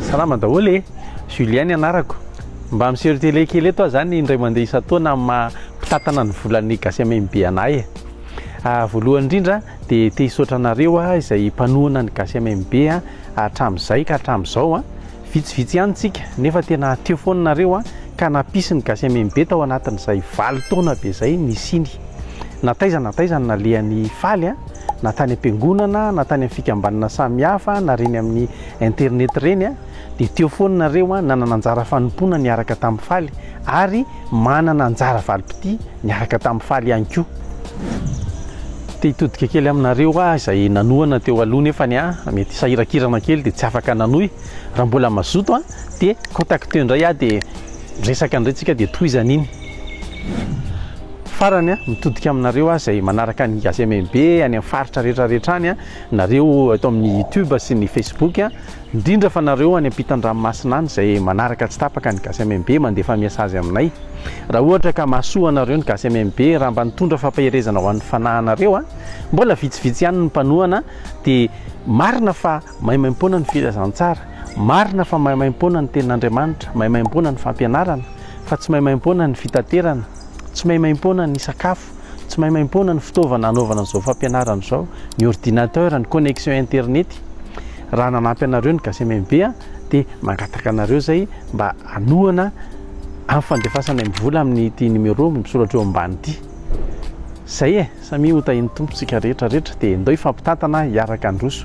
Salama daholo e! Julien ny anarako. Mba miseho télé kely eto aho zany indray mandeha isan-taona amin'ny maha mpitantana ny volan'ny Gasiamembe anay e! Voalohany indrindra dia te hisaotra anareo aho izay mpanohana ny Gasiamembe hatramin'izay ka hatramin'izao a! Vitsivitsy ihany tsika nefa tena teo foana nareo a! Ka nampisy ny Gasiamembe tao anatin'izay valo taona be izay nisiany. Na taiza na taiza no nalehany faly a! Na tany am-piangonana, na tany amin'ny fikambanana samihafa, na reny amin'ny Internet ireny a, dia teo foana nareo a, nanana anjara fanompoana niaraka tamin'ny faly ary manana anjara valim-pitia niaraka tamin'ny faly ihany koa. Te hitodika kely aminareo aho izay nanohana teo aloha nefa ny ahy mety sahirakirana kely dia tsy afaka nanohy. Raha mbola mazoto a, dia contacteo indray aho dia miresaka indray tsika dia tohizana iny. Farany a, mitodika aminareo aho izay manaraka ny Gazemembe any amin'ny faritra rehetra rehetra any a. Nareo eto amin'ny youtube sy ny facebook a, indrindra fa nareo any ampitan-dranomasina any izay manaraka tsy tapaka ny gasy MMB mandefa miasazy aminay. Raha ohatra ka mahasoa anareo ny gasy MMB raha mba nitondra fampaherezana ho an'ny fanahinareo a, mbola vitsivitsy ihany ny mpanohana dia marina fa maimaimpoana ny filazantsara, marina fa maimaimpoana ny tenin'Andriamanitra, maimaimpoana ny fampianarana, fa tsy maimaimpoana ny fitaterana, tsy maimaimpoana ny sakafo. Tsy maimaimpoana ny fitaovana hanaovana an'izao fampianarana izao, ny ordinateur, ny connexion internet. Raha nanampy anareo ny GACMMB dia mangataka anareo izay mba hanohana amin'ny fandefasanay ny vola amin'ity numéro misoratra eo ambany ity. Izay e, samia ho tahin'ny Tompo isika rehetra rehetra dia ndao hifampitantana hiaraka handroso.